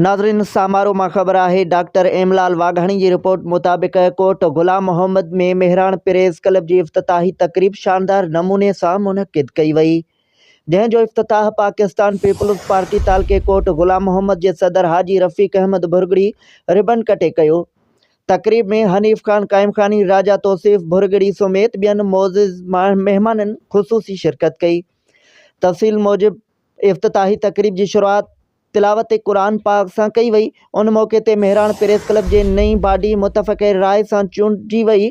ناظرين سامارو مان خبر آهي ڊاڪٽر ايملال واگهاڻي جي رپورٽ مطابق ڪوٽ غلام محمد ۾ مهراڻ پريس ڪلب جي افتتاحي تقريب شاندار نموني سان منعقد ڪئي وئي جنهن جو افتتاح پاڪستان پيپلز پارٽي تعلقي ڪوٽ غلام محمد جي صدر حاجي رفيق احمد ڀرڳڙي ربن ڪٽي ڪيو تقريب ۾ حنيف خان قائمخاني راجا توصيف ڀرڳڙي سميت ٻين معزز مهمانن خصوصي شرڪت ڪئي تفصيل موجب افتتاحي تقريب جي شروعات تلاوت قرآن پاڪ سان ڪئي وئي. ان موقعي تي مهراڻ پريس ڪلب جي نئين باڊي متفقه راء سان چونڊجي وئي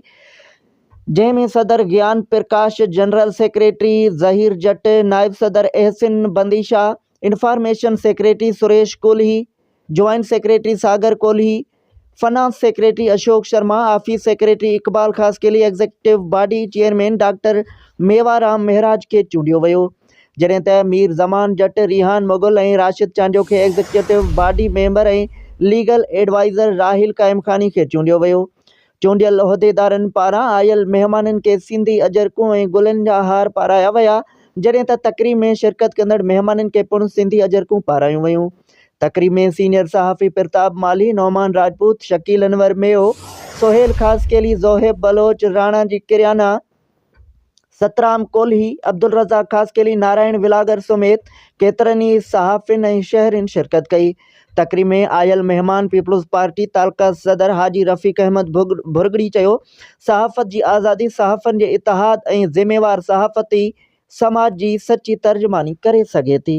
جنهن ۾ صدر گيان پرڪاش، جنرل سيڪريٽري ظهير جٽ، نائب صدر Ahsan Bandeshah, information secretary Suresh Kolhi, joint secretary Sagar Kolhi, finance secretary Ashok Sharma, office secretary Iqbal Khaskheli, executive body chairman doctor Mevaram Maharaj کي چونڊيو ويو، جڏهن ته مير زمان جٽ، ريحان مغل ۽ راشد چانڊيو کي executive body member ۽ legal adviser Raheel Qaimkhani کي چونڊيو ويو. چونڊيل عهديدارن پاران آيل مهمانن کي سيندي اجرڪون ۽ گلن جا هار پارايا ويا، جڏهن ته تقريب ۾ شرڪت ڪندڙ مهمانن کي پڻ سيندي اجرڪون پارايون ويون. تقريب ۾ سينيئر صحافي پرتاب مالهي، نعمان راجپوت، شڪيل انور ميو، سهيل خاصخيلي، زوهيب بلوچ، راڻا جي ڪريانا، سترام ڪولهي، عبدالرزاق خاصخيلي، نارائڻ ولاگر سميت ڪيترن ئي صحافين ۽ شهرين شرڪت ڪئي. تقريب ۾ آيل مهمان پيپلز پارٽي تعلقه صدر حاجي رفيق احمد ڀرڳڙي چيو، صحافت جي آزادي صحافين جي اتحاد ۽ ذميوار صحافت ئي سماج جي سچي ترجماني ڪري سگهي ٿي.